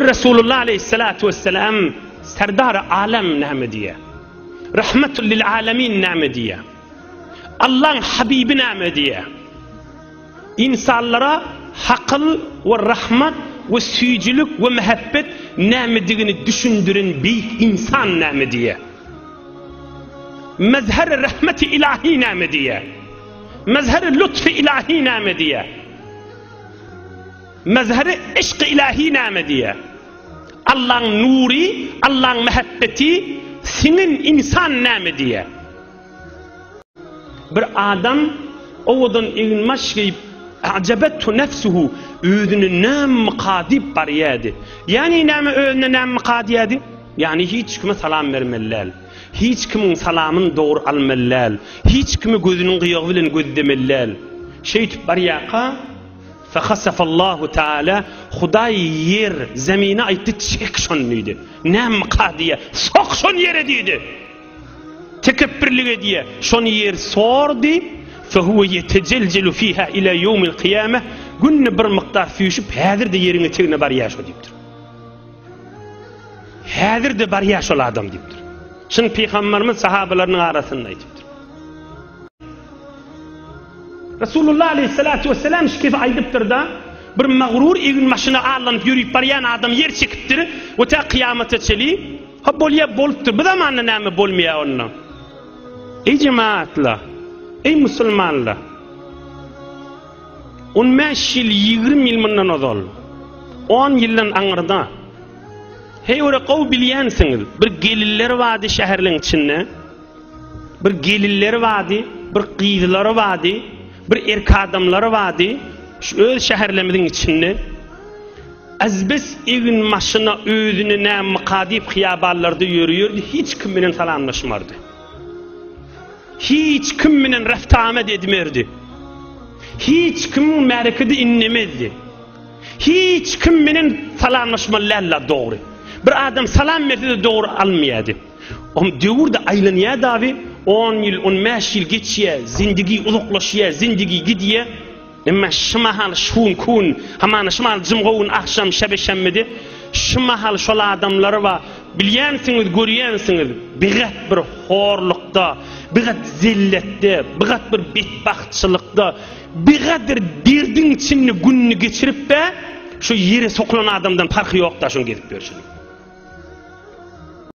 Resulullah aleýhissalatu wesselam Serdary alem näme diýýär? Rahmetul lil alemin näme diýýär? Allaň habibi näme diýýär? Ynsanlara hakyl we rahmat we süýjülik we mähebbet nämedigini düşündiren beýik ynsan näme diýýär? Mezher rahmeti ilahi näme diýýär? Mezher lutfi ilahi näme diýýär? Mezhebi yşky ilahi name diýýär. Allaň nury, Allaň mehebbeti siňen insan name diýýär. Bir adam owadan eginbaş geýip A'jabethu nefsuhu özüni namyka diýip barýady. Ýani name özüne namyka diýýady? Ýani hiç kime salam bermeli däl. Hiç kimiň salamyny dogry almaly däl. Hiç kimi gözüniň gyýagy bilen gözlemeli däl. Şeýtip barýaka Fehasafallahu Teala, Hudaý ýer, zemine aýtdy, Çek şony diýdi. Nämka diýýä, Sok şony ýere diýdi. Tekepbirlik edýä, şony ýer sordy, Fehuwe yetecelcelu fiha ila yevmil kıyame, günni bir mykdar süýşüp, häzir de ýeriň etegine barýa şo diýipdir. Häzir de barýa şol adam diýipdir. Çyn pygamberimiz sahabalarynyň arasynda aýdypdyr. Resulullah aleýhissalatu wesselam şikesi aýdypdyr-da, Bir magruur egin maşyna allanyp ýörüp barýan adam ýer çekipdir we tä kyýamata çeli, Ha bolýa bolupdyr, bu zamanda näme bolmaýa onda? Eý jemaatlar, eý musulmanlar! On bäş ýyl, ýigrimi ýyl mundan ozal, on ýyldan aňyrda, heý ora gowy bilýänsiňiz, bir geliller bardy şäherleň içinde, Bir gelinleri bardy, bir gyzlary bardy, bir erk adamlary bardy. Şu öz şäherlerimiziň içinde Azbes egin maşyna özüni nä mykadip hyýabanlarda ýörýärdi, hiç kim bilen salamlaşmardy. Hiç kim bilen raftamet edmerdi. Hiç kim märkedi innemezdi. Hiç kim bilen salamlaşmaly däl dogry. Bir adam salam berse dogry almaýardy. Om döwürde aýlanýa dabi on ýyl on bäş ýyl geçýä zindigi uzaklaşýa zindigi gidýä emma şu mahal şun kun hamana şu mahal jymga gün agşam şebe şemmidi şu mahal şol adamlary ba bilýänsiňiz görýänsiňiz bigat bir horlukda bigat zilletde bigat bir betbagtçylykda bigadir derdiň içinde günni geçirip be şu ýere sokulan adamdan parhy ýokda şun gezip ýörşüni